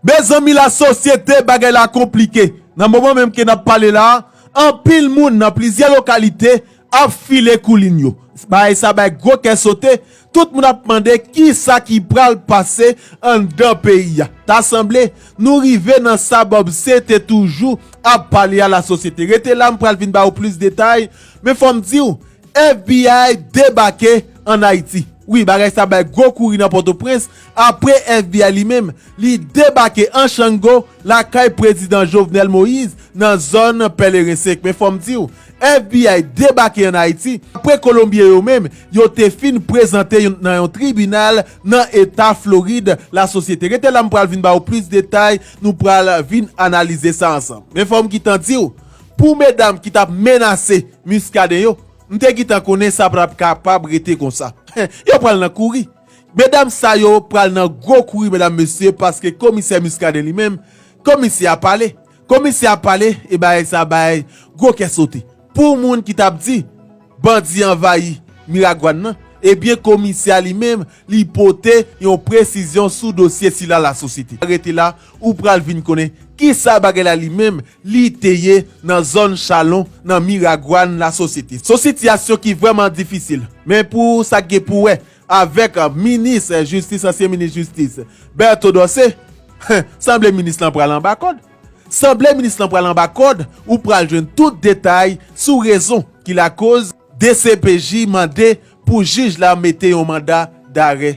Mezanmi la sosyete bagay la konplike, nan moman menm ke nap pale la anpil moun nan plizyè lokalite ap file koulin yo, bagay sa bay gwo kè sote, tout moun ap mande kisa ki pral pase anndan peyi a, ta sanble nou rive nan sa Bobse te toujou ap pale a la sosyete, rete la m pral vin ba ou plis detay, men fòm diw FBI debake an Ayiti, wi bagay sa bay gwo kouri nan Pòtoprens. Apre FBI li menm, li debake an chango lakay Prezidan Jovenel Moise nan zòn Pèleren 5. Men fò m di w, FBI debake an Ayiti apre Kolonbyen yo menm yo te fin prezante yon nan yon tribinal nan eta Florid la sosyete. Rete la m pral vin ba w plis detay, nou pral vin analize sa ansanm. Men fò m gitan di w, pou medam ki t ap menase Muscadin yo, m te gitan konnen sa pa t ap kapab rete konsa. Yo pral nan kouri. Medam sa yo pral nan gwo kouri medam mesye paske komisè Muscadin li menm komisè a pale komisè a pale e bagay sa bay gwo kè sote pou moun ki tap di bandi anvayi Miragwàn nan ebyen komisè a li menm li pote yon presizyon sou dosye sila lasosyete rete la Ou pral vin konnen kisa bagay la li menm li te ye nan zòn Chalon nan Miragwàn la sosyete. Son sitiyasyon ki vrèman difisil men pou sa k gen pou wè avèk minis jistis ansyen minis jistis Bertho Dorcé hen sanble minis lan pral anba kòd sanble minis lan pral anba kòd ou pral jwenn tout detay sou rezon ki lakoz dcpj mande pou jij la mete yon manda darè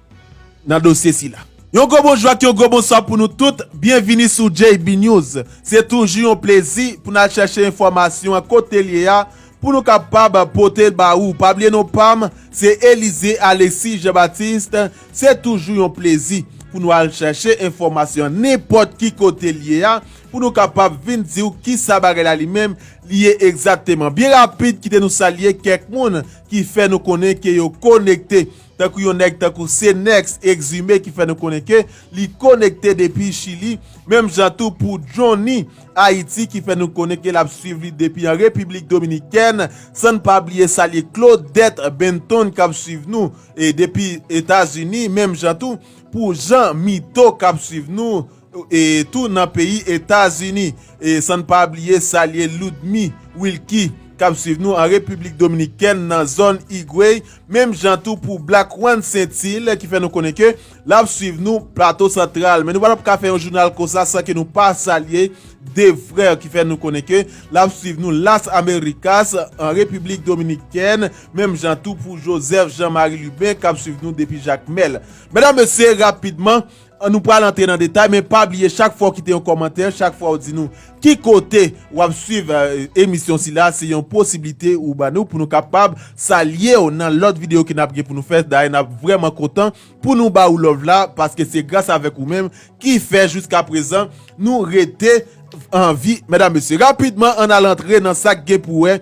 nan dosye sila. Yon gwo bonjou ak yon gwo bonswa pou nou tout, byenvini sou JB News. Se toujou yon plezi pou n al chèche enfòmasyon an kote l ye a pou nou kapab pote l ba ou. Pa bliye non pa m se Elize Alexis Jean Baptiste, se toujou yon plezi pou nou al chèche enfòmasyon an nenpòt ki kote l ye a pou nou kapab vin di ou kisa bagay la li menm li ye egzakteman. Byen rapid kite nou salye kèk moun ki fè nou konnen ke yo konekte. Tankou yon nèg tankou Senex Exumé ki fè nou konnen ke li konekte depi Chili, menm jan tou pou Johnny Haiti ki fè nou konnen ke lap swiv li depi an Repiblik Dominikèn, san n pa bliye salye Claudette Benton kap swiv nou depi Etazini, menm jan tou pou Jean Mito kap swiv nou. e tou nan peyi Etazini, e san n pa bliye salye Ludmy Wilky k ap swiv nou an Repiblik Dominikèn nan zòn Higüey, menm jan tou pou Black Juan Saintil ki fè nou konnen ke l ap swiv nou Plato Santral. Men nou pa t ap ka fè yon jounal konsa san ke nou pa salye De Frère ki fè nou konnen ke l ap swiv nou Las Americas an Repiblik Dominikèn, menm jan tou pou Joseph Jean Marie Lubin k ap swiv nou depi Jakmèl. Medam, Mesye, rapidman. An nou pral antre nan detay men pa bliye chak fwa ou kite yon kòmantè, chak fwa ou di nou ki kote wap swiv emisyon sila se yon posiblite ou ba nou pou nou kapab salye w nan lòt videyo ke nap gen pou nou fè dayè nap vrèman kontan pou nou ba ou love la paske se gras avèk ou menm ki fè jiska prezan nou rete anvi. Medam mesye rapidman an al antre nan sak gen pou wè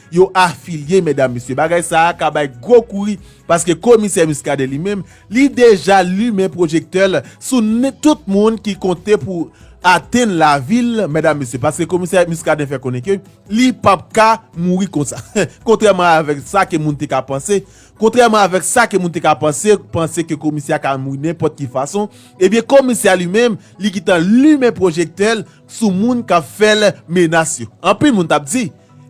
yo afilye medam mesye bagay sa a ka bay gwo kouri paske komisè Muscadin li menm li deja limen pwojektè l sou tout moun ki konte pou atenn lavi l medam mesye paske komisè Muscadin fè konnen ke li p ap ka mouri konsa kontrèman avèk sa ke moun te ka panse kontrèman avèk sa ke moun te ka panse panse ke komisè a ka mouri nenpòt ki fason ebyen komisè a li menm li gentan limen pwojektè l sou moun kap fèl menas yo anpil moun tap di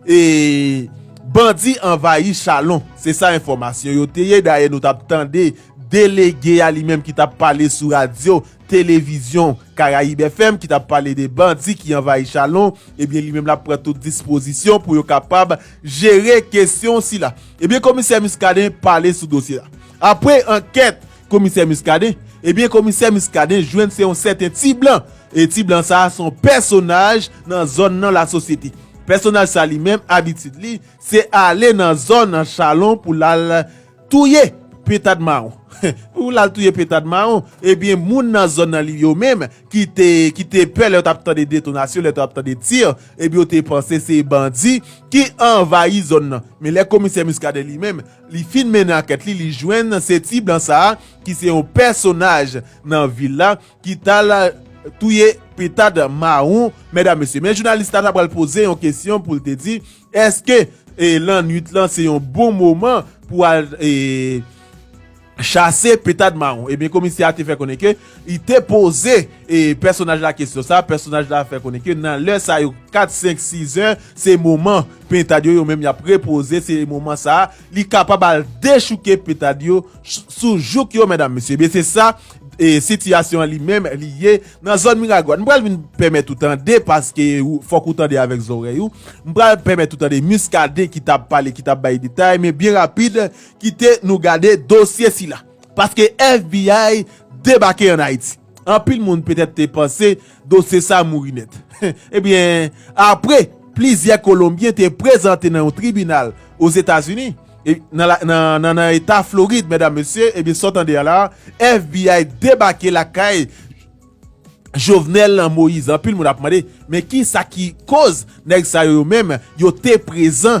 e bandi anvayi chalon se sa enfòmasyon yo te ye dayè nou tap tande delege a li menm ki tap pale sou radyo televizyon karayib FM ki tap pale de bandi ki anvayi chalon ebyen li menm lap pran tout dispozisyon pou yo kapab jere kesyon sila ebyen komisè miskaden pale sou dosye a apre ankèt Komisè Muscadin? Ebyen komisè Muscadin jwenn se yon sèten ti blan, e ti blan sa a se yon pèsonaj nan zòn nan lasosyete. Pèsonaj sa li menm abitid li se ale nan zòn Chalon pou l al touye petad mawon. Pou l al touye petad mawon, ebyen moun nan zòn nan li yo menm ki te ki te pè lè yo t ap tande detonasyon, lè yo t ap tande tir, ebyen yo te panse se bandi ki anvayi zòn nan. Men lè komisè Muscadin li menm, Li fin mennen ankèt li, li jwenn se ti blan sa a ki se yon pèsonaj nan vil la ki t al touye pentad mawon. Medam, mesye, men jounalis la ta pral poze yon kesyon pou l te di, èske lannuit lan se yon bon moman pou al. Chase Petad Mawon. Ebyen komisè a te fè konnen ke li te poze pèsonaj la kesyon sa, pèsonaj la fè konnen ke nan lè sa yo 4, 5, 6 zè se moman pentad yo yo menm y ap repoze se moman sa li kapab al dechouke petad yo sou jouk yo medam mesye. Ebyen se sa sitiyasyon an li menm li ye nan zòn Miragwàn. M pral vin pèmèt ou tande paske fòk ou tande avèk zòrèy ou. M pral pèmèt ou tande Muscadin ki t ap pale ki t ap bay detay men byen rapid. Kite nou gade dosye sila. Paske FBI debake an Ayiti. Anpil moun petèt te panse dosye sa mouri nèt. Ebyen, apre plizyè Kolonbyen te prezante nan yon tribinal Ozetazini, nan Eta Florid, medam, mesye, ebyen sa w tande a la, FBI debake lakay Jovenel Moise. Anpil moun ap mande, men kisa ki koz nèg sa yo yo menm yo te prezan?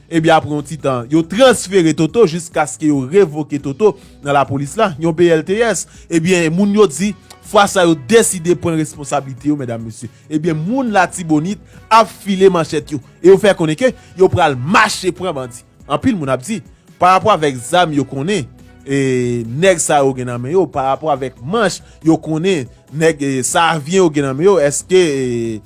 Ebyen apre yon ti tan, yo transfere Toto jiskaske yo revoke Toto nan lapolis la, yon BLTS. Ebyen moun yo di, fwa sa yo deside pran responsablite yo medam mesye. Ebyen moun latibonit ap file manchèt yo e yo fè konnen ke yo pral mache pran bandi. Anpil moun ap di, parapò avèk zam yo konnen e nèg sa yo gen nan men yo, parapò avèk manch yo konnen nèg e sa avyen yo gen nan men yo, eske e.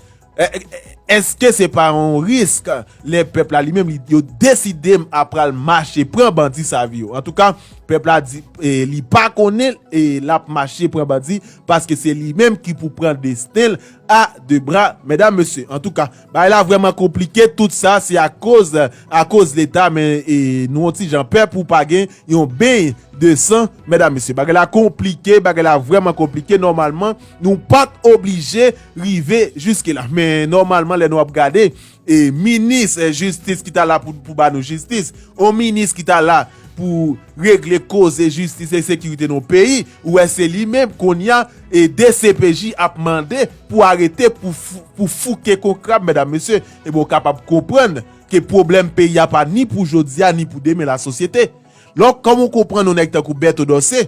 Eske se pa yon risk lè pèp la li menm li yo deside m ap pral mache pran bandi sa vi yo. Antouka pèp la di li pa konnen e l ap mache pran bandi paske se li menm ki pou pran desten l a de bra medam mesye. Antouka bagay la vreman konplike tout sa se a koz a koz leta men e nou yon ti jan pè pou pa gen yon beny de san medam mesye. Bagay la konplike bagay la vreman konplike nòmalman. Nou pat oblije rive jiske la. Men nòmalman lè nou ap gade e minis jistis ki ta la pou ba nou jistis, yon minis ki ta la pou regle koze jistis e sekirite nan yon peyi, ou wè se li menm konnya e dcpj ap mande pou arete pou fouke kon krab medam mesye, e ben w kapab konprann ke pwoblèm peyi a pa ni pou jodi a ni pou demen lasosyete. Donk kòman w konprann yon nèg tankou Berto Dorcé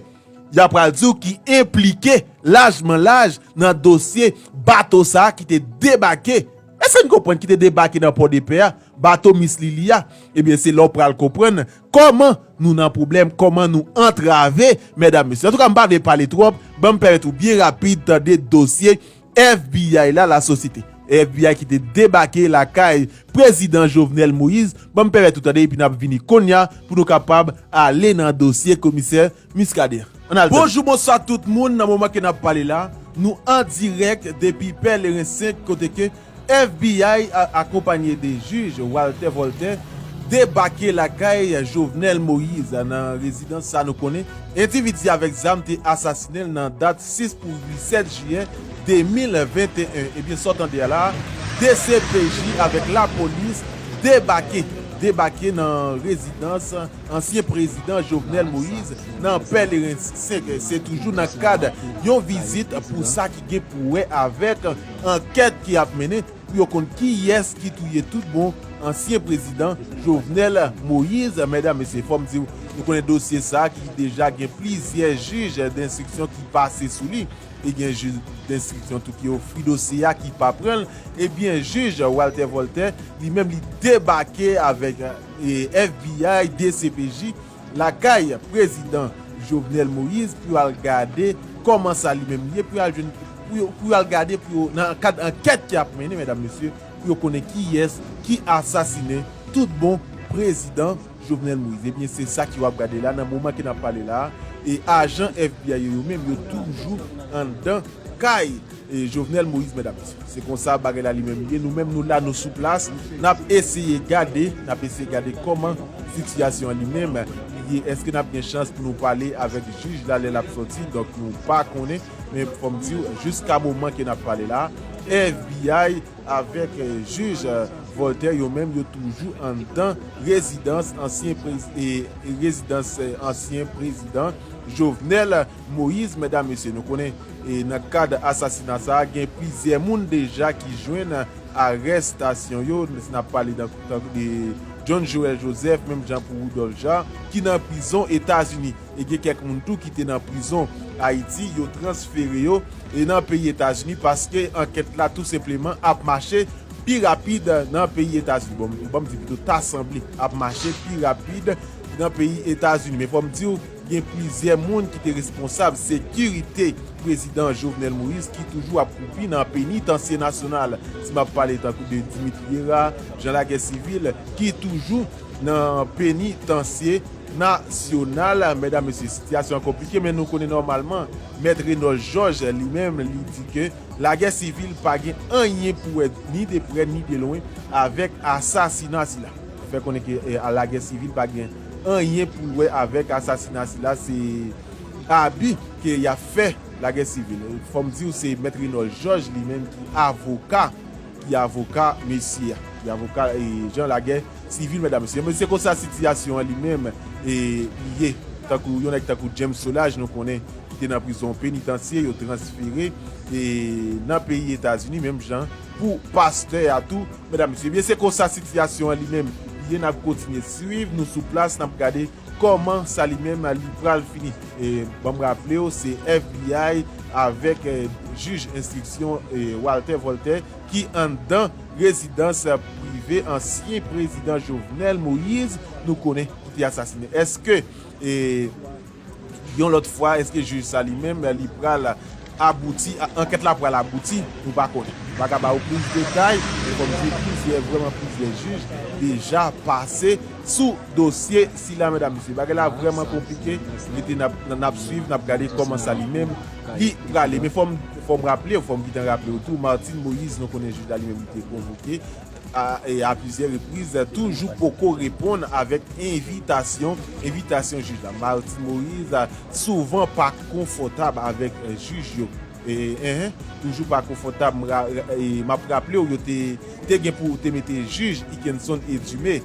Y a pral di w ki enplike lajman laj nan dosye bato sa a ki te debake, èske n konprann, ki te debake nan Pòdepè a, bato Miss Lili a. Ebyen se la w pral konprann kòman nou nan pwoblèm, kòman nou antrave, mèdam mesye. Antouka m pa vle pale twòp, ban m pèmèt ou byen rapid tande dosye FBI la la sosyete. FBI ki te debake lakay Prezidan Jovenel Moise banm pèpèt ou tande epi nap vini konnya pou nou kapab ale nan dosye komisè Muscadin an al tande. Bonjou bonswa tout moun nan moman ke nap pale la nou an dirèk depi pèleren 5 kote ke FBI akonpanye de jij Walter Voltè debake lakay Jovenel Moise nan rezidans sa nou konnen endividi avèk zam te asasinen l nan dat 6 pou 8 7 jiyè 2021 ebyen sa w tande a la dcpj avèk lapolis debake debake nan rezidans ansyen prezidan Jovenel Moise nan Pèleren 5 se toujou nan kad yon vizit pou sa gen pou wè avèk ankèt ki ap mennen pou yo konn kiyès ki touye tout bon ansyen prezidan Jovenel Moïse. Medam, mesye, fò m di w, nou konnen dosye sa a ki deja gen plizyè jij denstriksyon ki pase sou li e gen jij denstriksyon tou ki ofri dosye a ki pa pran l. Ebyen, jij Walter Voltaire li menm li debake avèk FBI, dcpj. Lakay prezidan Jovenel Moïse pou yo al gade kòman sa li menm ye pou yo al jwenn pou yo al gade pou yo nan kad ankèt ki ap mennen medam mesye pou yo konnen kiyès ki asasinen tout bon prezidan Jovenel Moïse ebyen se sa ki yo ap gade la nan moman ke nap pale la e ajan FBI yo yo menm yo toujou anndan kay Jovenel Moïse medam mesye se konsa bagay la li menm ye nou menm nou la nou sou plas nap eseye gade nap eseye gade kòman sitiyasyon an li menm li ye eske nap gen chans pou nou pale avèk jij la lè lap sòti donk nou pa konnen men fòm diw jiska moman ke nap pale la fbi avèk jij Voltaire yo menm yo toujou anndan rezidans ansyen rezidans ansyen prezidan Jovenel. Moïse, mèdam mesye nou konnen nan kad asasina sa a gen plizyè moun deja ki jwenn arestasyon yo n ap pale tankou de John Joël Joseph menm jan pou Rudolph Jean ki nan prizon etazini e gen kèk moun tou ki te nan prizon ayiti yo transfere yo nan peyi etazini paske ankèt la tou senpleman ap mache pi rapid nan peyi etazini bon m di pito ta sanble ap mache pi rapid nan peyi etazini men fò m di w. Gen plizyè moun ki te responsab sekirite prezidan Jovenel Moïse ki toujou ap kwoupi nan penitansye nasyonal. Si m ap pale tankou de Dimitri Herard, Jean Laguerre Civil ki toujou nan penitansye nasyonal. Medam, mesye, sitiyasyon an konplike men nou konnen nòmalman Mèt Reynold Georges li menm li di ke Laguerre Civil pa gen anyen pou wè ni de prè ni de lwen avèk asasina sila. Li fè konnen ke Laguerre Civil pa gen. anyen pou l wè avèk asasina sila se abi ke y ap fè lagè sivil fò m di w se mèt Renòl Jòj li menm ki avoka ki avoka mesye a ki avoka jan lagè sivil mètdam mesye men se konsa sitiyasyon an li menm li ye tankou yon nèg tankou James Solage nou konnen ki te nan prizon penitansye yo transfere nan peyi Etazini menm jan pou pastè a tou Medam mesye ebyen se konsa sitiyasyon an li menm ye nap kontinye swiv nou sou plas nap gade kòman sa li menm li pral fini banm raplew se fbi avèk jij enstriksyon Waltè Vòltè ki anndan rezidans prive ansyen prezidan Jovenel Moïse nou konnen ki te asasine èske. Yon lòt fwa, èske jij sa li menm li pral abouti, ankèt la pral abouti, nou pa konnen. M pa ka ba ou plis detay, men kòm m di w plizyè, vrèman plizyè jij deja pase sou dosye sila medam mesye. Bagay la vrèman konplike, rete n ap swiv, n ap gade kòman sa li menm li prale. Men fò m raple w, fò m gen tan raple w tou, Martine Moïse nou konnen jij la li menm li te konvoke a plizyè repriz, toujou poko reponn avèk envitasyon, envitasyon jij la. Martine Moïse souvan pa konfòtab avèk jij yo. Eeh, toujou pa konfòtab, m ap raple w yo te gen pou te mete jij Ikenson Edumé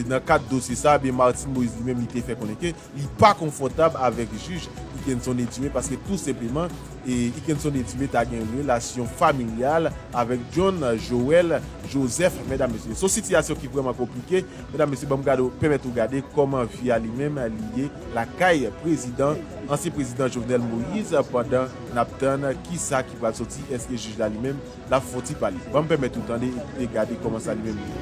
nan kad dosye sa, Martine Moïse li menm li te fè konnen ke Li pa konfòtab avèk jij Ikenson Edime paske tou senpleman Ikenson Edime ta gen relasyon familyal avèk John Joel Joseph mèdam mesye son sitiyasyon ki vrèman konplike mèdam mesye banm gade pèmèt ou gade kòman vi a li menm li ye lakay prezidan ansyen prezidan Jovenel Moïse pandan nap tann kisa ki pral sòti èske jij la li menm Lap fon ti pale. Banm pèmèt ou tande e gade kòman sa li menm li ye.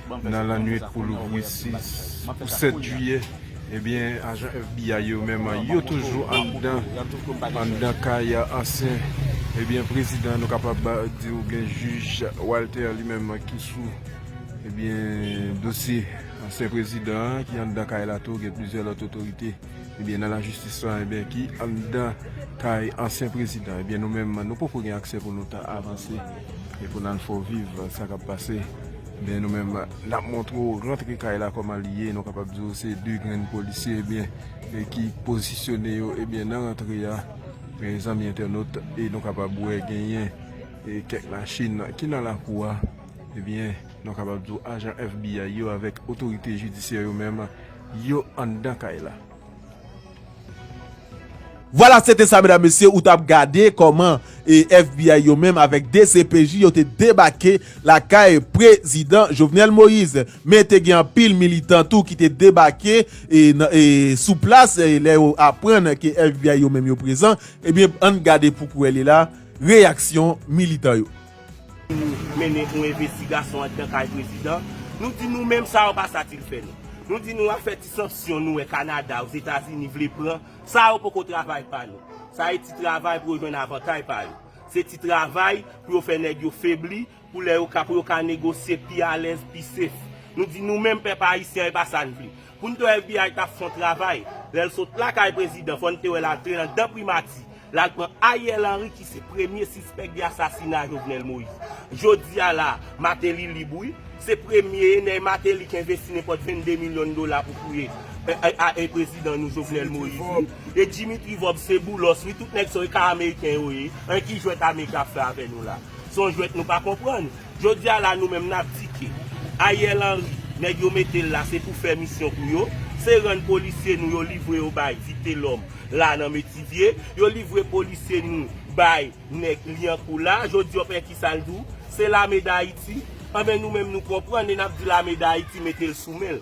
Nan lannwit pou louvri 6 pou 7 jiyè, ebyen ajan FBI yo menm yo toujou anndan anndan kay ansyen ebyen prezidan nou kapab di ou byen jij Walter li menm ki sou ebyen dosye ansyen prezidan an ki anndan kay la tou gen plizyè lòt otorite ebyen nan lajistis lan ebyen ki anndan kay ansyen prezidan ebyen nou menm nou poko gen aksè pou nou ta avanse. E pou nan fè w viv sa kap pase ebyen nou menm nap montre w rantre kay la kòman li ye nou kapab di w se 2 grenn polisye ebyen ki pozisyone yo ebyen nan rantre a mezanmi entènot e nou kapab wè genyen kèk machin ki nan lakou a ebyen nou kapab di w ajan FBI yo avèk otorite jidisyè yo menm yo anndan kay la. Vwala se te sa medam mesye ou tap gade koman FBI yo menm avek dcpj yo te debake lakay prezidan Jovenel Moise men te gen anpil militan tou ki te debake sou plas lè yo aprann ke FBI yo menm yo prezan ebyen ann gade pou kwè li la reyaksyon militan yo. Pou nou mennen yon envestigasyon anndan kay prezidan, nou di nou menm sa yo pa satilfè nou. Nou di nou afè ti sanksyon nou wè Kanada, Ozetazini vle pran, sa yo poko travay pa nou. Sa e ti travay pou yo jwenn avantay pa yo. Se ti travay pou yo fè nèg yo febli, pou lè yo ka pou yo ka negosye pi alèz, pi sef. Nou di nou menm pèp ayisyen e pa sa n vle. Poun t wè FBI tap fon travay. Lèl sot lakay prezidan fòn te wèl antre nan dan primati lal pran Ariel Henry ki se premye sispèk de asasina Jovenel Moïse. Jodia la Martelly lib wi. Se premye e nèy Martelly k envesti nenpòt 22 milyon dola pou touye AI prezidan nou Jovenel Moïse wi. E Dimitri Vorbe se boulos wi tout nèg sa yo e ka ameriken yo ye. An ki jwèt ame kap fè avè nou la. Son jwèt nou pa konprann. Jodi a la nou menm nap di ke Ariel Henry nèg yo metel la se pou fè misyon pou yo, se rann polisye nou yo livre yo bay vitelom la nan metivye, yo livre polisye nou bay nèg liankou la, jodi yo pè kisal di w, se lame dayiti, anben nou menm nou konprann e nap di lame dayiti metel sou menl.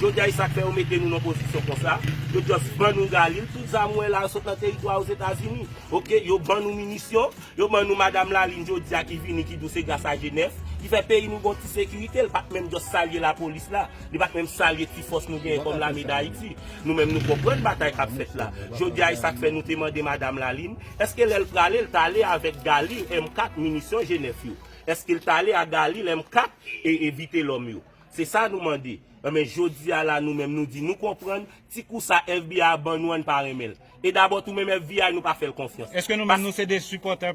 Jodia e sak fè yo mete nou nan pozisyon konsa, yo just ban nou Galil, tout zam ou wè la yo sot nan teritwa Ozetazini, ok, yo ban nou minisyon, yo ban nou madam Lalin jodia ki vini ki di w se gras a Genèf ki fè peyi nou gon ti sekirite, l pat menm just salye lapolis la, li pat menm salye ti fòs nou genyen kòm lame dayiti, nou menm nou konprann batay kap fèt la, jodia e sak fè nou te mande madam Lalin, eske lè l prale l t ale avèk Galil M4 minisyon Genèf yo, eske l t ale a Galil M4 e Vitelòm yo. Se sa nou mande. Enben, jodi a la nou menm nou di nou konprann ti kou sa FBI a ban nou an n pa renmen l. E dabò tou menm FBI nou pa fè l konfyans. Eske nou menm nou se de sipòtè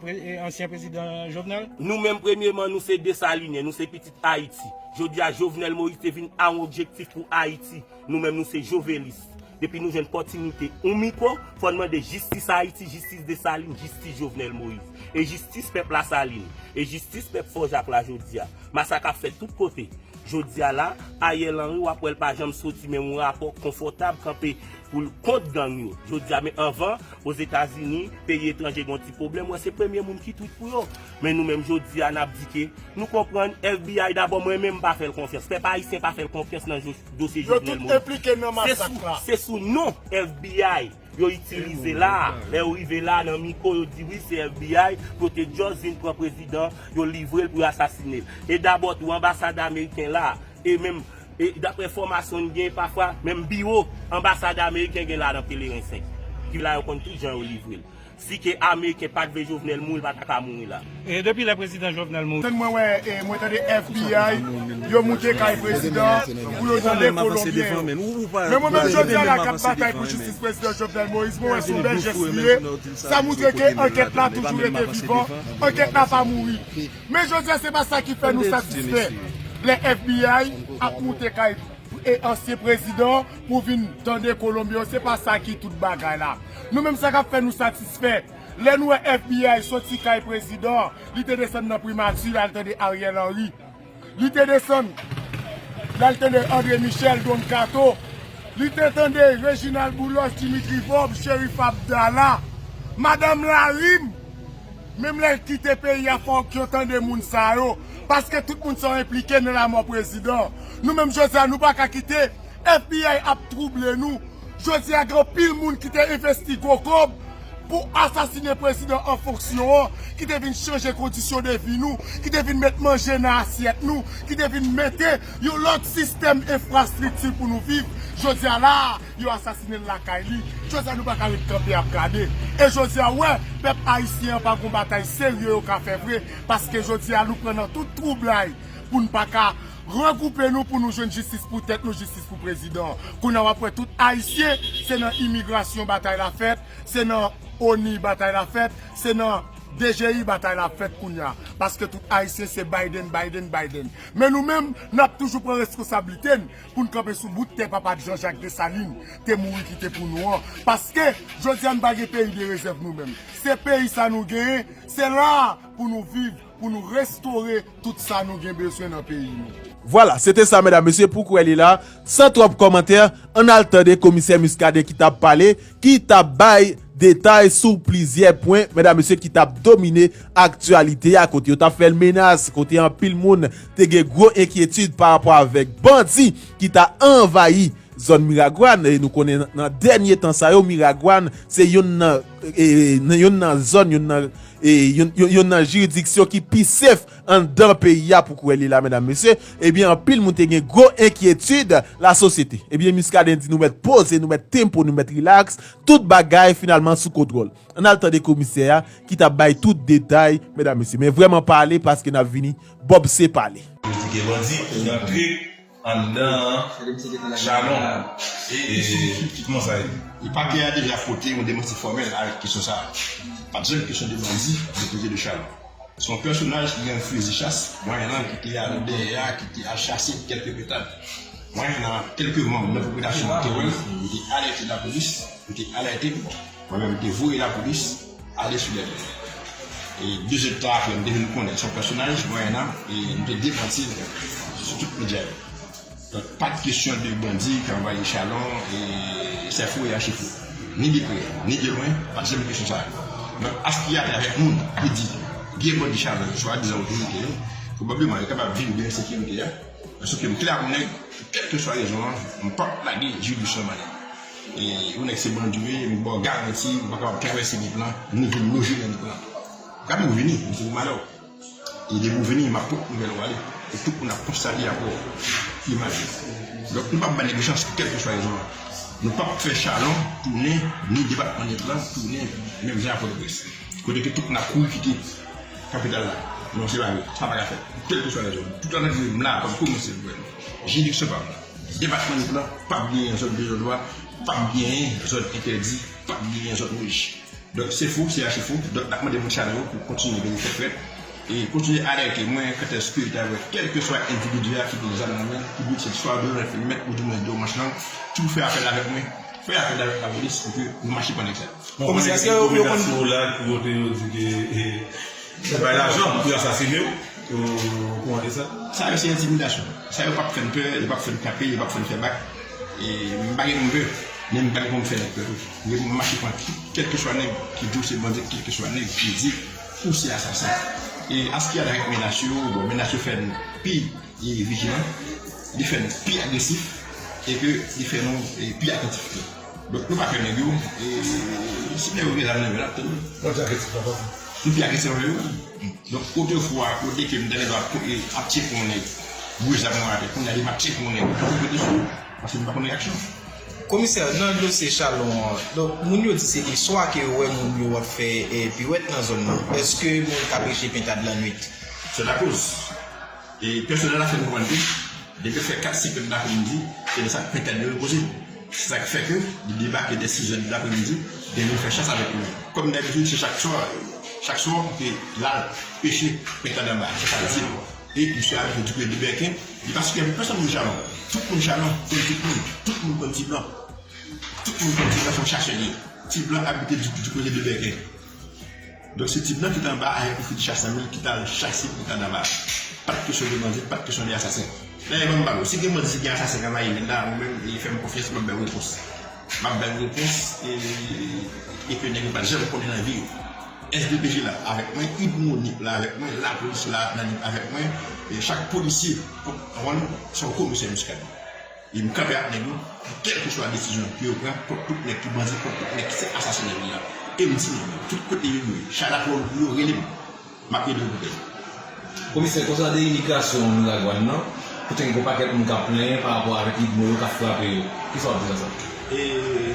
ansyen prezidan Jovenel? Nou menm premyeman nou se Desalinyen, nou se pitit Ayiti. Jodi a Jovenel Moïse te vin a yon objektif pou Ayiti. Nou menm nou se jovelis. Depi nou jwenn pòtinite ou mikwo, fò n mande jistis Ayiti, jistis Desalin, jistis Jovenel Moïse. E jistis pèp Lasalin. E jistis pèp Fò Jak la jodi a. Masak ap fèt tout kote. Jodi a la, Ariel Henry w ap wè l pa janm soti men yon rapò konfòtab kanpe pou l kont gang yo. Jodi a men anvan, Ozetazini, peyi etranje gen yon ti pwoblèm, wè se premye moun ki twit pou yo. Men nou menm jodi a nap di ke nou konprann FBI dabò mwen menm mpa fèl konfyans, pèp ayisyen pa fèl konfyans nan dosye Jovenel Moïse. Se sou non FBI yo itilize la a, lè yo rive la a nan miko yo di wi se FBI pou yo te just vin pran prezidan, yo livrel pou yo asasinel. E dabò tou anbasad ameriken la a, e menm e daprè enfòmasyon nou gen pafwa menm biwo anbasad ameriken gen la a nan Pelerin 5. Ki la yo konn tout jan yo livrel. Si ke ameriken pat vle jovenel mouri li pa ta ka mouri la. Depi lè prezidan jovenel mouri. Tann mwen wè e mwen tande FBI yo moute kay prezidan pou yo tande kolonbyen yo. Men mwen menm jodia la kap batay pou jistis prezidan jovenel moïse mwen wè son bèl jès li ye sa moutre ke ankèt la toujou rete vivan ankèt la pa mouri men jodia se pa sa ki fè nou satisfè lè FBI ap moute kay ansyen prezidan Pou vin tande kolonbyen yo se pa sa ki tout bagay la. Nou menm sa kap fè nou satisfè lè nou wè FBI soti kay prezidan an li te desann nan primati lal tande Ariel Henry li te desann lal tande Andre Michel Don Kato li te tande Reginald Boulos Dimitri Vorbe Cherif Abdala Madame Larim menm lèl kite peyi a fòk yo tande moun sa yo paske tout moun sa yo enplike nan lamò prezidan nou menm jodi a nou paka kite FBI ap trouble nou. Jodi a gen anpil moun ki te envesti gwo kòb pou asasine prezidan an fonksyon an, ki te vin chanje kondisyon de vi nou, ki te vin met manje nan asyèt nou, ki te vin mete yon lòt sistèm enfrastrikti pou nou viv. Jodi a la a, yo asasine l lakay li. Jodi a nou pa ka ret kanpe ap gade. E jodi a ou wè, pèp ayisyen an pa gen yon batay serye yo ka fè vre, paske jodi a nou pran nan tout twoublay pou n pa ka. Regroupe nou pou nou jwenn jistis pou tèt nou jistis pou prezidan kounya wap wè tout ayisyen se nan imigrasyon batay la fèt se nan onu batay la fèt se nan dgi batay la fèt kounya paske tout ayisyen se Biden Biden Biden men nou menm nap toujou pran reskonsablite n poun kanpe sou bout tè papa Jean Jacques Dessalines te mouri kite pou nou an paske jodi a nou pa gen peyi de rezèv nou menm se peyi sa nou genyen se la pou nou viv Pou nou restore tout sa nou gen bezwen nan peyi nou. Vwala, se te sa medam mesye pou kwè li la, san twòp kòmantè, ann al tande komisè Muscadin ki tap pale, ki tap bay detay sou plizyè pwen medam mesye ki tap domine aktyalite a, kote yo tap fè l menas, kote anpil moun te gen gwo enkyetid pa rapò avèk bandi ki ta anvayi zòn Miragwàn, e nou konnen nan dènye tan sa yo Miragwàn se youn nan. nan youn nan zòn, youn nan, youn nan jiridiksyon ki pi sef anndan peyi a pou kwè li la medam mesye, ebyen anpil moun te gen gwo enkyetid la sosyete. Ebyen Muscadin di nou mèt poze, nou mèt tempo, nou mèt rilaks, tout bagay finalman sou kontwòl. Ann al tande komisè a ki t ap bay tout detay medam mesye. Men vrèman pale paske n ap vini Bob se pale. Yo di gen bandi ki rantre anndan an jalon e kman sa ye. E pakè a deja pote yon demanti fòmèl a kesyon sa a. Pa t janm kesyon de bandi nan koze de Chalon. Se yon pèsonaj ki gen yon fizi chas mwayen lan ki te al dèyè a ki te al chase kèlke petad mwayen lan kèlke manm nan popilasyon an te wè l, yo te alète lapolis, yo te alète Mwen menm te voye lapolis ale sou dèt mwen. E de zèd tan apre m te vin konnen se yon pèsonaj Mwayennan e m te demanti l sou tout medya yo. Donk pa t kesyon de bandi ki anvayi Chalon e Sèfou e Achefou. Ni de prè, ni de lwen, pa t janm gen kesyon sa yo. Donk aspye a te avèk moun ki di gen bandi Chalon yo, swadizan otorite yo, pwobableman yo kapab viv gen ensekirite a. Sou ke m klè ak ou nèg, pou kèlkeswa rezon an, m p ap lage Julius Normandin. Yon nèg se bandi ou ye, m baw garanti ou pa kapab travèse nip lan, ni vin loje nan nip lan. Ou ka menm vini, m se pou malè w. E depi ou vini, m ap pot nouvèl ou ale. E tout moun ap konsta li ap wè w. Imaj. Donk nou pap bay nèg yo chans pou kèlkeswa rezon an. Nou pap fè Chalon tounen, ni depatman nip lan tounen menm jan ak Pòtoprens. Kote ke tout moun ap kouri kite kapital la. Non se pa vre. Sa pa ka fèt. Pou kèlkeswa rezon. Tout analiz m la kòm kòmè se pou wè l. Jiridiksyon pa m. Depatman Nip lan p ap genyen zòn de non dwa, p ap genyen zòn entèdi, p ap genyen zòn wouj. Donk se fou, se achi fou. Donk n ap mande moun sa yo pou kontinye veye tèt frèt e kontinye alète mwen kantèske yo ta wè kèlkeswa endividi a ki gen zam nan men, ki di se swa de rèfèn mèt ou di mwen de manch lang, si w fè apèl avèk mwen, fè apèl avèk lapolis pou ke nou mache pran nèg sa yo. Bon, mwen gen ti rekomandasyon w la ki kote yo di ke. Yo bay lajan pou yo asasine w ou kouran de sa? Sa yo se entimidasyon. Sa yo pap fèn pè, yo pap fèn tape, yo pap fèn fè bak. E m pa gen pou m pè, men m pa gen pou m fè nèg pè tou. M gen pou m mache pran tout kèlkeswa nèg ki di w se bandi, kèlkeswa nèg ki di ou se asasen. E an s ki alarèk menas yo, bon menas yo fè n pi vijilan, li fè n pi agresif e ke li fè nou pi atantif tou. Dok nou pa fè nèg yo e si nèg yo gen zam nan yo lap tann yo. Bon jan agrese papa tou. Nou pi agrese pase yo. Dok otefwa kote ke m ta rive ap tcheke yon nèg bouch zam nan atè kounya li map tcheke yon nèg pou pete sou li paske m pa konn reyaksyon. Komisè, nan dosye Chalon an, dok moun yo di se le swa ke yo wè moun yo ap fè piwèt nan zòn nan. Eske moun ka preche pentad lannwit? Sè lakoz. Pèsonèl la fè nou konprann ke depi l fè 4 si pèn dapremidi, se lè sa pentad yo repoze. Se sa k fè ke li debake dè sizè de dapremidi, gen nou fè chans avèk li. Kòm dabitid se chak swa, chak swa pou ke l al peche pentad anba a, se sa l di. E misye a toujou di ke Libèken, li pa sipèvye pèsòn moun Jalon. Tout moun Jalon konn tout moun. Tout moun konn Tiblan. Tout moun konn Tiblan se yon chasè li ye. Tiblan abite di kote Libèken. Donk se tip nan ki t anba ayè pou Fritcha Samuel ki t al chase pou kadava a. Pa t kesyon de bandi, pa t kesyon de asasen. Dayè ban m ba w, si gen bandi, si gen asasen k anvayi vil la, ou menm e fè m konfyans m ap ba w repons. M ap ba w repons e ke nèg yo pa t janm konnen nan vi yo. Sdpj la avèk mwen, Ibronip la avèk mwen, lapolis la nan avèk mwen, chak polisye pran wòl l, se yon komisè Muscadin. E m kanpe ak nèg yo pou kèlkeswa desizyon ke yo pran kont tout nèg ki bandi, kont tout nèg ki se asasen nan peyi a. E m di nèg yo, tout kote yo ye, chay ak lòd pou yo, rele m. M ap ede yo pou tèt yo. Komisè Konsade Imigrasyon Miragwàn nan, kote gen gwo pakèt moun k ap plenyen pa rapò avèk idmo yo k ap frape yo, kisa w ap di nan sa? E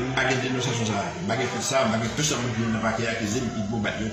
m pa gen denonsasyon sa a. M pa gen tout sa a. M pa gen pèsòn moun ki nan pakè a akize m idmo bat yo.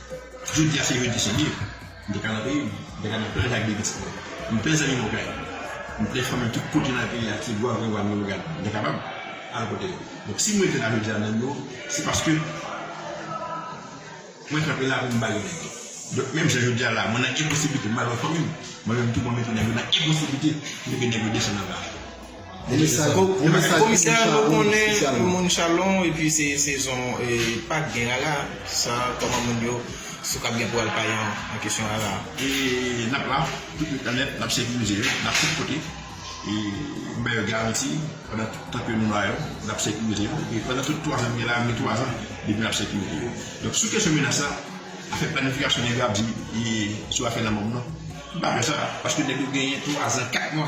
Jodi a se jodi se liv, m te ka nan peyi m, m te ka nan plaj ak bebe ti pòy. M plen zanmi m okay, m plen fanmi tout kote nan peyi a, Tigwav, Rewal, Miwogan, m te kapab al kote yo. Donk si m rete la jodi a nan biro, se paske mwen kanpe la pou m bay yon nèg yo. Donk menm jan jodi a la mwen nan enposiblite m al wè fanmi m, mwen menm tou mwen mete nèg yo nan enposiblite pou m mete nèg yo desann anba. Komisè nou konnen ou moun chalon epi se sezon pak gen rara sa koman moun yo sou kap gen pou al pale nan kesyon rara a. Nap la tout nuit lan nèt nap sekirize yo nan tout kote e nou ba yo garanti pandan tout tan ke nou la yo nap sekirize yo epi pandan tout 3 zan nou gen la gen 3 zan depi nap sekirize yo donk sou kesyon menas la afè planifikasyon nèg yo ap di sou afè lanmò m nan m pa wè sa paske nèg yo genyen 3 zan 4 mwa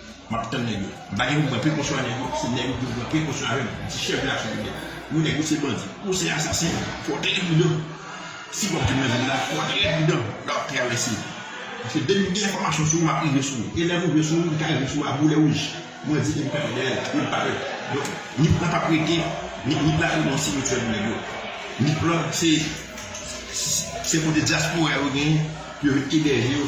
Map tann nèg yo. Mpa gen pou mwen prekosyon a nèg yo, se nèg yo pou yo pran prekosyon avèm, di chèf de aksyon kriminèl. Wi nèg yo se bandi, yo se asasen, fò trè pridan. Si wap vin nan vil la, fò trè pridan lè wap travèse. Paske depi gen enfòmasyon sou ou map rive sou ou. E lèm rive sou ou, mka rive sou ou a boulè wouj. Mwen di e mka ri dèyèl, e mpa pè. Donk Nip lan pap rete, Nip lan ap tounen yon simityè pou nèg yo. Nip lan se kote dyaspora yo genyen pou yo vin ebèje yo.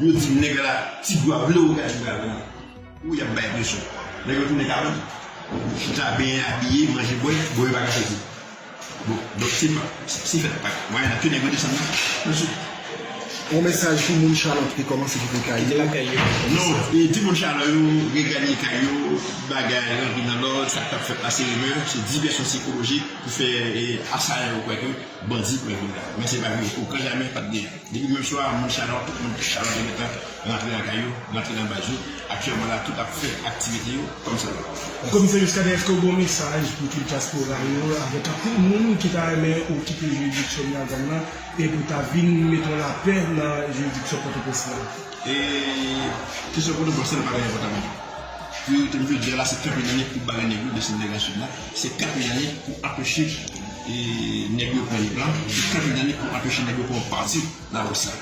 Yo di nèg la ti dwa ble ou gade pral pran ou yap bay presyon nèg yo tounen kalot chita benyen abiye manje bwè bon yo paka chwazi bon donk se pa se fèt pa mwayen la ke nèg yo desann nan mesye. On mesaj pou moun chalon ki te komanse kite kay yo non e di moun chalon yo reganye kay yo bagay rantre nan lòd sak tap fèt la se rimè se divèsyon sikolojik pou fè asayan yo kwè ke bandi pran vil la men se pa vre okan jamè pat gen Depi dimanch swa a, moun Chalon, tout moun ki Chalon te gentan rantre nan kay yo, rantre nan baz yo. Aktyèlman la, tout ap fè aktivite yo kòmsadwa. Komisè Muscadin eske w gen yon mesaj pou tout dyaspora yo avèk anpil moun ki ta renmen ou kite jiridiksyon Miagam nan e pou ta vin mete yon lapè nan jiridiksyon Pòtoprens lan? E kesyon Pòtoprens lan pa gen enpòtans menm. Priyorite m jodi a la se kenpe nan nèg pou bare nèg yo desann nèg nan Sid la. Se kat meyanik pou apeche nèg yo pran Nip la, se kat meyanik pou apeche nèg yo pran yon pati nan Lwès la.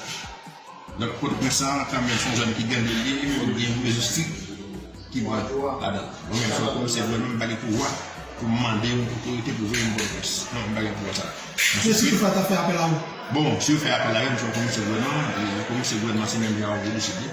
Donk Pòtoprens sa a tanmen son zòn ki gande li ye, fòk gen yon mezo strik ki pran ladan l. Mwen menm kòm komisè gouvènman m pa gen pouvwa pou m mande yon otorite pou veye m Pòtoprens. Non, m pa gen pouvwa sa a. Msye Sipri pa ta fè apèl a ou? Bon, si yo fè apèl a yo, m se yon komisè gouvènman, e komisè gouvènman se menm jan ak Vodou Sud yo.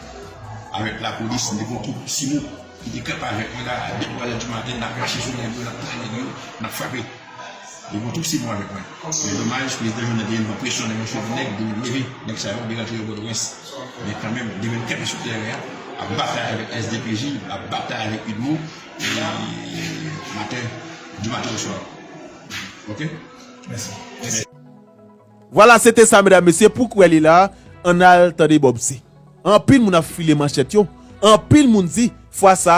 avèk lapolis, m te pran kout simo ki te kanpe avèk mwen la, a 2 twalè di maten, n ap mache sou nèg yo, n ap touye nèg yo, n ap frape. Yo pran tout simo avèk mwen. Men domaj, prezidan Jovenel te vin pran presyon nan men seri nèg, di m leve nèg sa yo, m te rantre yo Pòtoprens. Men kanmenm, li te vin kanpe sou tèren an, ap batay avèk SDPJ, l ap batay avèk udmo, maten, di maten oswa. Ok? Mèsi. Vwala se te sa medam mesye pou kwè li la ann al tande bob se anpil moun ap file manchèt yo anpil moun di fwa sa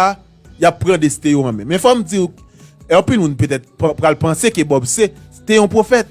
yap pran desten yo an men men fòm diw k anpil moun petèt pral panse ke bob se te yon pwofèt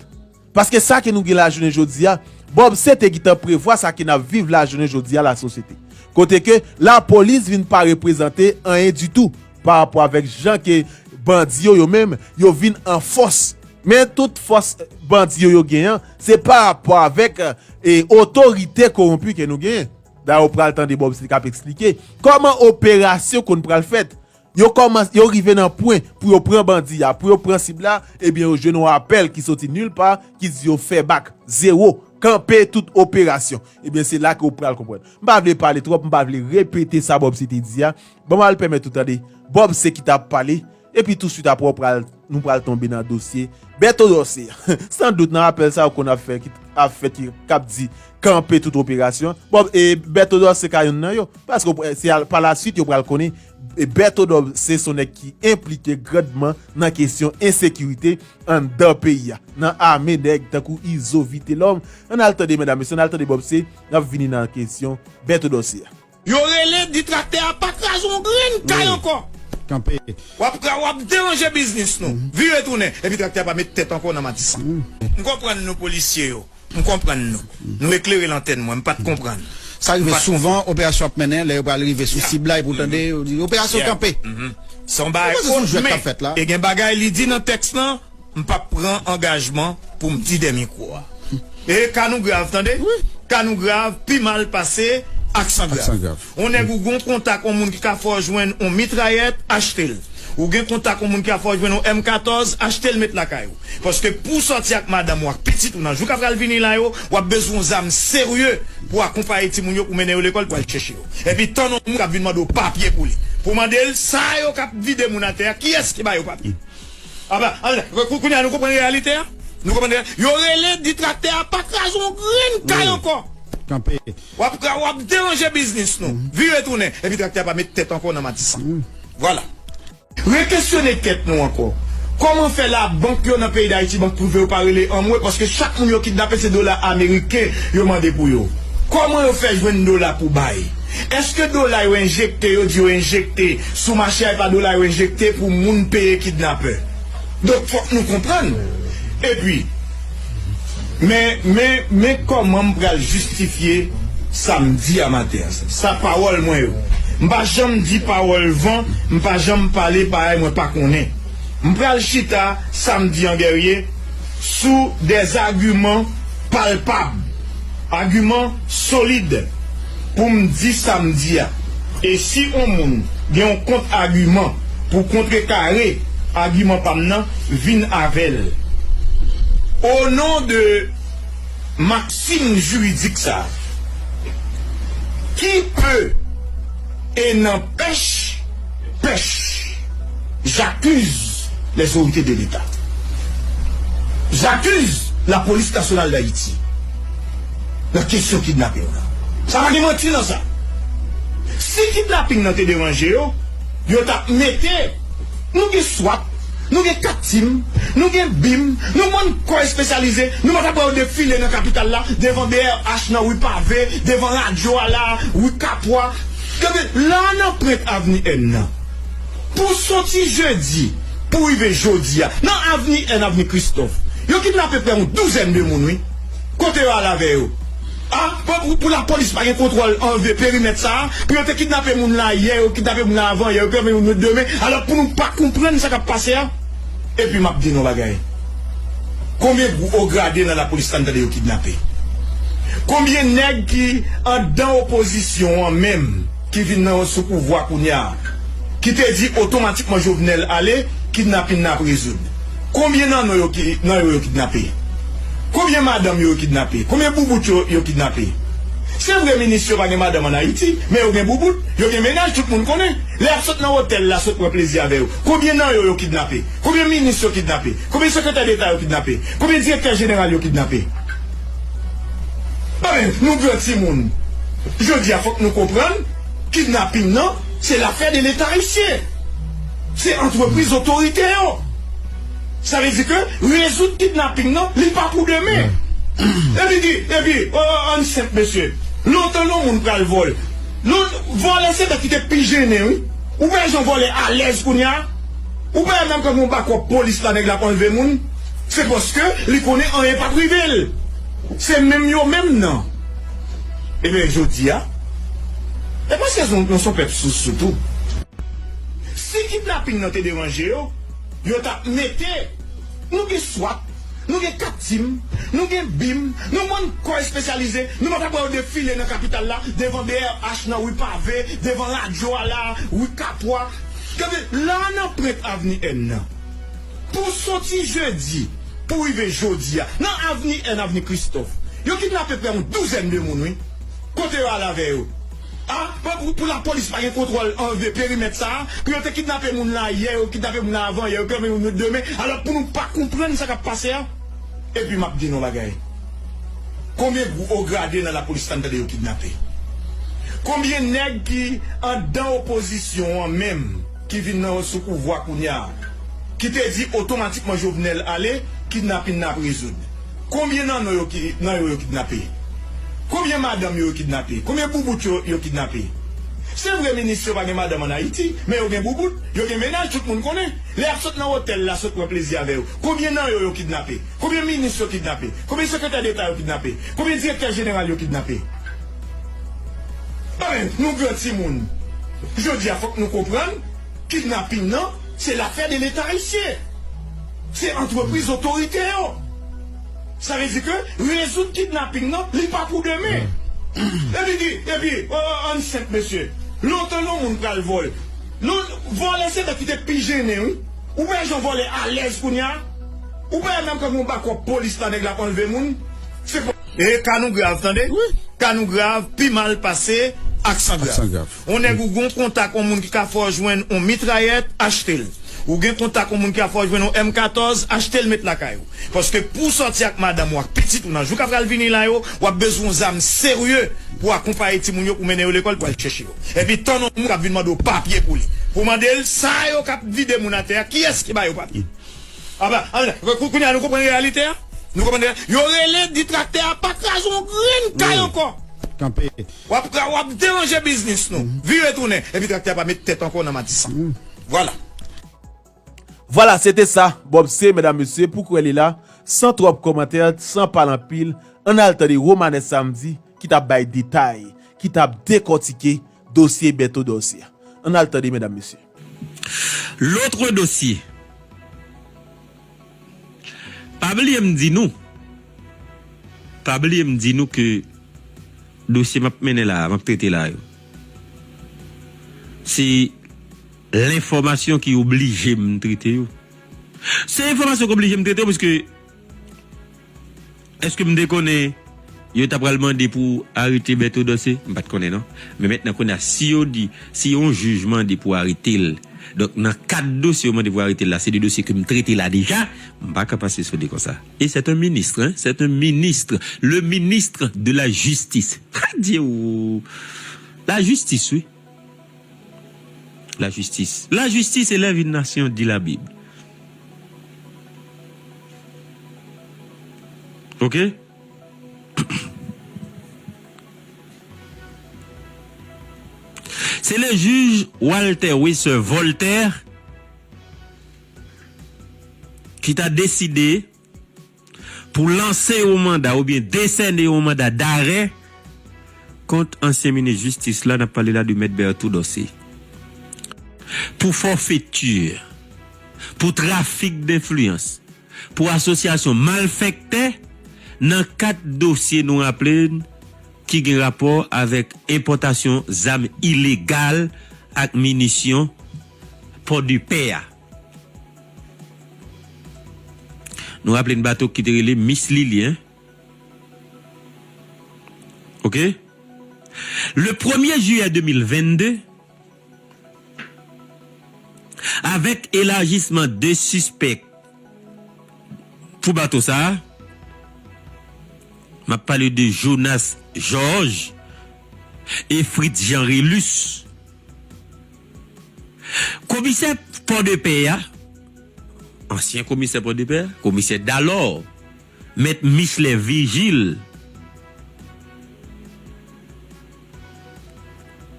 paske sa ke nou gen la jounen jodi a bob se te gitan prevwa sa ke nap viv la jounen jodi a la sosyete kote ke la polis vin pa reprezante anyen ditou pa rapò avèk jan ke bandi yo yo menm yo vin an fòs. Men tout fòs bandi yo yo gen an, se pa rapò avèk e otorite kowonpi ke nou gen. Dayè ou pral tande Bob Sly kap eksplike kòman operasyon konn pral fèt. Yo kòmanse, yo rive nan pwen pou yo pran bandi a, pou yo pran sib la, ebyen yo jwenn yon apèl ki soti nil pa ki di yo fè bak, zewo, kanpe tout operasyon. Ebyen se la ke ou pral konprann. M pa vle pale twòp, m pa vle repete sa Bob Sly te di a. Banm al pèmèt ou tande. Bob se ki ta ap pale, epi touswit apre w pral, nou pral tonbe nan dosye Berto Dorcé an. San dout nan apèl sa ou konn ap fè ki ap fèt ki kap di kanpe tout operasyon. Bob e Berto Dorcé ka yonn nan yo. Paske ou se al pa la swit yo pral konnen Berto Dorcé son nèg ki enplike grandman nan kesyon ensekirite anndan peyi a. Nan ame nèg tankou Izo Vitelòm. Ann al tande medam mesye, ann al tande Bob se nap vini nan kesyon Berto Dorcé a. Yo rele ditraktè a pa kraze yon grenn kay ankò. Kanpe. Wap deranje biznis nou. Vire tounen. Epi traktè a pa met tèt ankò nan Matisan. M konprann nou polisye yo. M konprann nou. Nou eklere lantèn mwen. M pat konprann. Sa rive souvan operasyon ap mennen lè yo pral rive sou sib la epi ou tande yo di operasyon kanpe. Se yon bagay kont men e gen bagay li di nan tèks lan. M pap pran angajman pou m di dè mikwo a. E ka nou grav tande. Ka nou grav pi mal pase aksan grav. On nèg ou gon kontak on moun ki ka fè w jwenn on mitrayèt, achte l. Ou gen kontak on moun ki ka fè w jwenn on M 14, achte l met lakay ou. Paske pou w sòti ak madanm ou ak pitit ou nan jou k ap pral vini la yo, w ap bezwen on zam serye pou w akonpaye timoun yo pou w mennen yo lekòl pou w al chèche yo. Epi tann on moun k ap vin mande w papye pou li. Pou w mande l sa yo k ap vide moun atè a kiyès ki ba yo papye. Kounya nou konprann reyalite a? Nou konprann reyalite a? Yo rele ditraktè a pa kraze yon grenn kay ankò. Kanpe. W ap deranje biznis nou. Vire tounen. Epi traktè a pa met tèt ankò nan Matisan. Vwala. Rekesyone tèt nou ankò. Kòman fè la bank yo nan peyi Dayiti, bank prive yo pa rele anmwe paske chak moun yo kidnape se dola ameriken yo mande pou yo. Kòman yo fè jwenn dola pou bay? Eske dola yo enjekte yo di yo enjekte sou mache a e pa dola yo enjekte pou moun peye kidnapè? Donk fòk nou konprann. Epi men men men kòman m pral jistifye sa m di a maten an sa? Sa pawòl mwen yo. M pa janm di pawòl van, m pa janm pale bagay mwen pa konnen. M pral chita sa m di an Guerrier? sou de zagiman palpab, agiman solid pou m di sa m di a. E si on moun gen on kont-agiman pou kontrekare agiman pa m nan, vin avè l. O non de maksim jiridik sa a, ki pe e nanpèch, Pèch! J'accuse les orités de l'Etat. J'accuse la police nationale d'Haïti nan kesyon kidnapping nan. Sa pa gen manti nan sa. Si kidnapping nan te deranje yo, yo t'ap mete Nou gen swat, nou gen kat tim, nou gen bim, nou bann kò espesyalize, nou pa ta pran yo defile nan kapital la, devan brh nan, rue Pavée, devan radyo a la, rue Capois, Gade, la a nan prent avni N nan, pou soti jedi pou rive jodi a, nan avni N, avni Kristòf, yo kidnape prè yon douzèn de moun wi. Kote yo al avè yo? A, pou lapolis pa gen kontwòl anlve perimèt sa a, pou yo te kidnape moun la yè, yo kidnape moun la avan yè, yo kidnape moun demen, alò pou nou pa konprann sa k ap pase a? Epi map di nou yon bagay konbyen gwo o grade nan lapolis la m tande yo kidnape? Konbyen nèg ki andan opozisyon an menm ki vin nan sou pouvwa kounya ki te di otomatikman Jovenel ale kidnapin nan ap rezoud? Konbyen nan nou yo ki nan yo yo kidnape? Konbyen madanm yo yo kidnape? Konbyen boubout yo yo kidnape? Se vre minis yo pa gen madanm an Ayiti men yo gen boubout, yo gen menaj tout moun konnen lè yap sot nan otèl la sot pran plezi avè yo Konbyen nan yo yo kidnape? Konbyen minis yo kidnape? Konbyen sekretè deta yo kidnape? Konbyen direktè jeneral yo kidnape? Anben, nou gran timoun. Jodi a fòk nou konprann kidnaping nan se lafè de leta ayisyen. Se antrepriz otorite yo. Sa vle di ke rezoud kidnaping nan li pa pou demen. Epi di, epi, ann senp mesye. Lontan non moun pral vòl. Vòlè se bèt ki te pi jennen wi. Ou wè jan vòlè alèz kounya Ou pa wè menm kòm yon bakòp polis la nèg la ap anlve moun Se paske li konnen anyen pap rive l Se menm yo menm nan Ebyen jodia E paske nou son pèp sousou tou Si kidnaping nan te deranje yo Yo tap mete Nou gen swat, nou gen kat tim, nou gen bim, nou bann kò espesyalize, nou pa tap wè yo defile nan kapital la, devan brh nan ri pave, devan radyo a la, ri kapwa, gade la a nan prent avni N nan. Pou soti jedi pou rive jodi a, nan avni N, avni kristòf, yo kidnape prè yon douzèn de moun wi, kote yo al avè yo? A, pa pou pou lapolis pa gen kontwòl anve perimèt sa a, pou yo te kidnape moun la yè, yo kidnape moun la avan yè, yo kidnape moun yo demen, alò pou nou pa konprann sa k ap pase a? Epi m ap di nou yon bagay, konbyen gwo o grade nan lapolis la n tande yo kidnape? Konbyen nèg ki anndan opozisyon an menm, ki vin nan sou pouvwa kounye a, ki te di otomatikman Jovenel ale, kidnapin nan ap rezoud? Konbyen nan nou yo ki nan yo yo kidnape? Konbyen madanm yo yo kidnape? Konbyen boubout yo yo kidnape? Se vre minis yo pa gen madanm an Ayiti, men yo gen boubout, yo gen mennaj tout moun konnen. Lè y ap sot nan otèl la sot pran plezi avè yo, konbyen nan yo yo kidnape? Konbyen minis yo kidnape? Konbyen sekretè deta yo kidnape? Konbyen direktè jeneral yo kidnape? Anben, nou gran ti moun, jodi a fòk nou konprann kidnaping nan se lafè de leta ayisyen. Se antrepriz otorite yo. Sa vle di ke rezoud kidnaping nan li pa pou demen. Epi di, epi ann senp mesye. Lontan non moun pral vòl. Non vòlè se nèg ki te pi jennen wi. Ou wè jan vòlè alèz kounye a. Ou pa wè menm kòm yon bakòp polis la nèg la ap anlve moun. Se pa. E ka nou grav tande. Ka nou grav pi mal pase aksan grav. On nèg ou gon kontak on moun ki ka fè w jwenn on mitrayèt, achte l. Ou gen kontak on moun ki ka fè w jwenn on M14, achte l met lakay ou. Paske pou w sòti ak madanm ou ak pitit ou nan jou k ap pral vini la yo, w ap bezwen on zam serye pou w akonpaye timoun yo pou w mennen yo lekòl pou al chèche yo. Epi tann on moun k ap vin mande w papye pou li. Pou w mande l sa yo k ap vide moun atè a, kiyès ki ba yo papye? Apa, kounye a nou konprann reyalite a? Nou konprann reyalite a? Yo rele di traktè a pa kraze on grenn kay ankò. Kanpe, Wap ka wap deranje biznis nou. Vire tounen. Epi traktè a pa met tèt ankò nan matisan. Vwala. Vwala se te sa Bob se medam mesye pou kwè li la san twòp kòmantè san pale anpil ann al tande Romanes Samedi ki tap bay detay ki tap dekòtike dosye Berto Dorcé a ann al tande medam mesye. Lotre dosye. Pa bliye m di nou, pa bliye m di nou ke dosye map mennen la a, map trete la yo, se lenfòmasyon ki oblije m trete yo. Se enfòmasyon ki oblije m trete yo pwiske. Eske m te konnen yo ta pral mande pou arete Bertho Dorcé? M pat konnen non. Men mètnan kounye a si yo di, si yon jij mande pou arete l, donk nan kad dosye yo mande pou arete l la, se de dosye ke m trete la deja, m pa ka pase sou li konsa. E c'est un ministre hein, c'est un ministre, le ministre de la justice. Adye wou! La justice wi. La jistis La jistis elèv yn nasyon di la bib ok Se le jij Walter Wesser Voltaire ki ta deside Pou lanse yon manda oubyen desène yon manda darè kont ansyen minis jistis la, n ap pale la de Mèt Bertho Dorcé, pou forfaiture, pou trafik denfliyans, pou asosyasyon malfèktè nan kat dosye nou raple n ki gen rapò avèk enpòtasyon zam ilegal ak minisyon Pòdepè a. Nou raple n bato ki te rele Miss Lilien. Ok. Le premye jiyè 2022, avèk elajisman de sispèk pou bato sa a, m ap pale de Jonas Georges e Fritz Jean Rélus, Komisè Pòdepè a, ansyen komisè Pòdepè, komisè Dalò, mèt Michelet Virgile,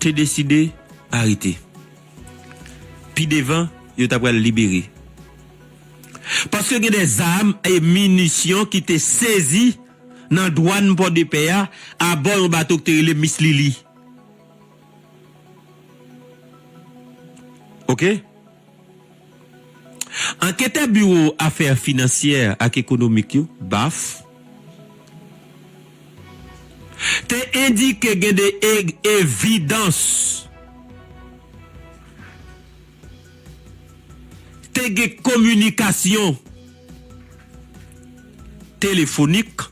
te deside arete. Pi devan, yo ta pral libere. Paske gen de zam e minisyon ki te sezi nan dwàn Pòdepè a abò yon bato ki te rele Miss Lili. Ok. Anketè Biwo Afè Finansyè ak Ekonomik yo, BAF, te endike gen de evidans te gen kominikasyon telefonik,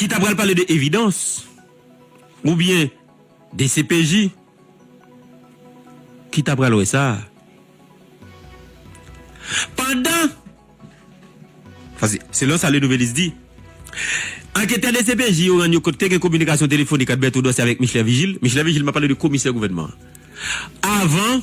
Ki ta pral pale de evidans ou byen dcpj ki ta pral wè sa. Pandan, paske selon sa Le Nouvelliste di, anketè dcpj yo rann yo kont ke gen kominikasyon telefonik ant Bertho Dorcé avèk Micheler Vigil, Micheler Vigil m ap pale de komisè gouvènman an, avan.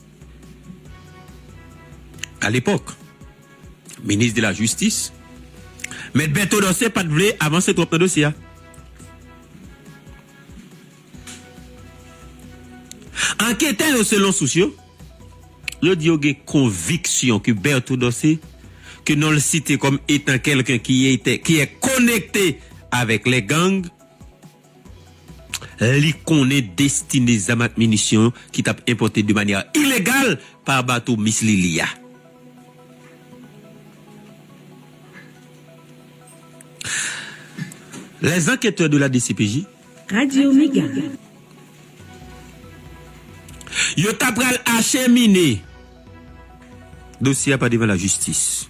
A lepòk, minis de la jistis, mèt Berto Dorcé pat vle avanse twòp nan dosye a. Anketè yo selon sous yo, yo di yo gen konviksyon ke Berto Dorcé, ke non l site kòm etan kèlken ki etè ki è konekte avèk lè gang, Li konnen destine zam ak minisyon ki t ap enpòte de manyè ilegal pa bato Miss Lili a. Les enquêteurs de la dcpj. Radio Mega. Yo ta pral achemine dosye a pa devan lajistis.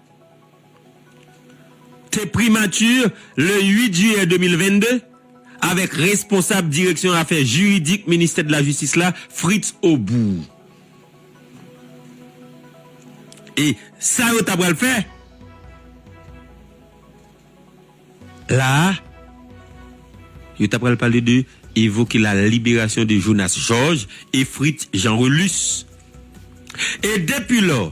Te Primature le 8 jiyè 2022 avèk responsab direksyon afè jiridik ministè de la Jistis la Fritz Aubour. E sa yo ta pral fè la a? Yo ta pral pale de evoke la liberasyon de Jonas Georges et Fritz Jean Relus. E depi lò.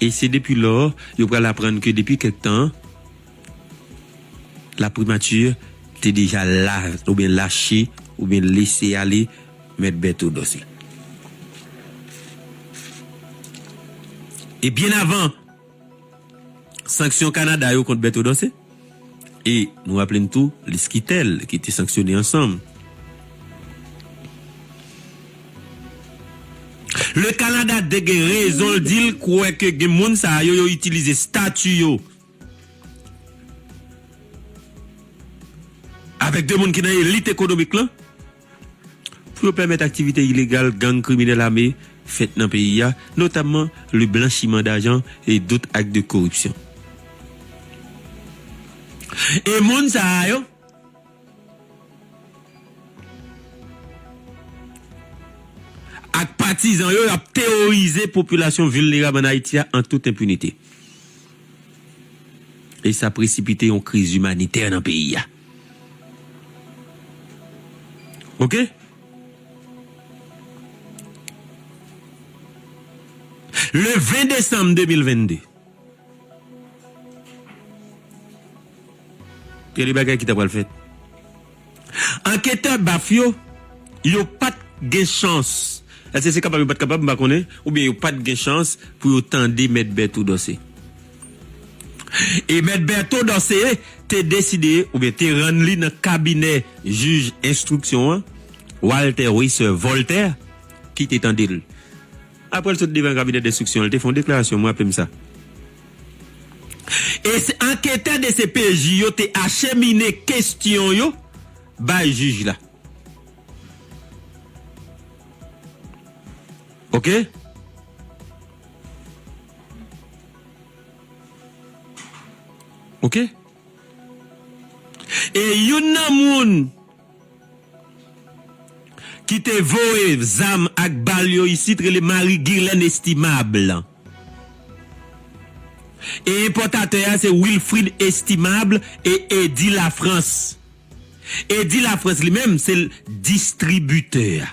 E se depi lò, yo pral aprann ke depi kèk tan, la primature te deja la, oubyen lache, oubyen lese ale Mèt Bèto Dòse. E byen avan! Sanksyon Kanada yo kont Berto Dorcé e nou raple n tou li Skitel ki te sanksyone ansanm. Le Kanada te gen rezon l di l kwè ke gen moun sa yo yo itilize stati yo avèk de moun ki nan elit ekonomik lan pou yo pèmèt aktivite ilegal gang kriminèl ame fèt nan peyi a, notamman le blanchiman dajan e dot ak de koripsyon. E moun sa a yo? Ak patizan yo, y ap teworize popilasyon vilnerab an Ayiti a an tout enpinite. E sa presipite yon kriz imanitè nan peyi a. Ok Le 20 desanm 2022 Gade bagay ki ta pral fèt Anketè baf yo Yo pat gen chans Eske se kapab yo pat kapab m pa konnen Oubyen yo pat gen chans Pou yo tande mèt Bertho Dorcé. E Mèt Bertho Dorcé te deside oubyen te rann li nan kabinè jij enstriksyon an, Walter Weisser Voltaire, ki te tande l. Aprè l sot devan kabinè denstriksyon an, li te fè yon deklarasyon, m raple m sa. E anketè dcpj yo te achemine kestyon yo bay jij la. Ok. Ok E youn nan moun Ki te voye zam ak bal yo isit rele Marie Guirlène Estimable E enpòtatè a se Wilfride Estimable e Eddy Lafrance Eddy Lafrance li menm se l distribitè a.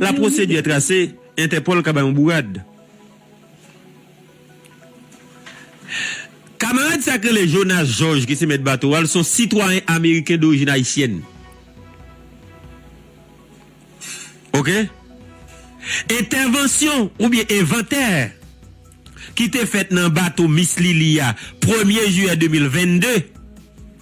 La procédure est tracée, Interpol ka bay yon bourad. Kamarad sa k rele Jonas Georges ki se mèt bato a l s on sitwayen ameriken dorijin ayisyèn ok entèvansyon oubyen envantè ki te fèt nan bato Miss Lili a premye jiyè 2022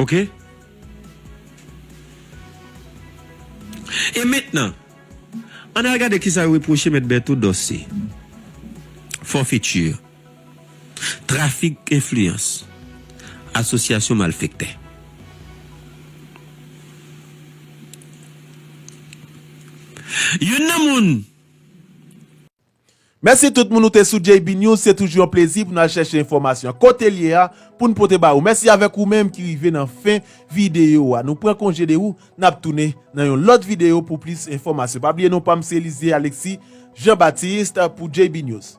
Ok E mentnan Ann al gade kisa yo repwoche mèt Bertho Dorcé Forfetur Trafik enfliyans Asosyasyon malfektè Youn nan moun. Mèsi tout moun ou te sou JB News se toujou yon plezi pou nou al chèche enfòmasyon an kote l ye a pou n pote ba ou mèsi avèk ou menm ki rive nan fen videyo a nou pran konje de ou n ap tounen nan yon lòt videyo pou plis enfòmasyon pa bliye non pa m se Elysée Alexis Jean Baptiste pou JB News.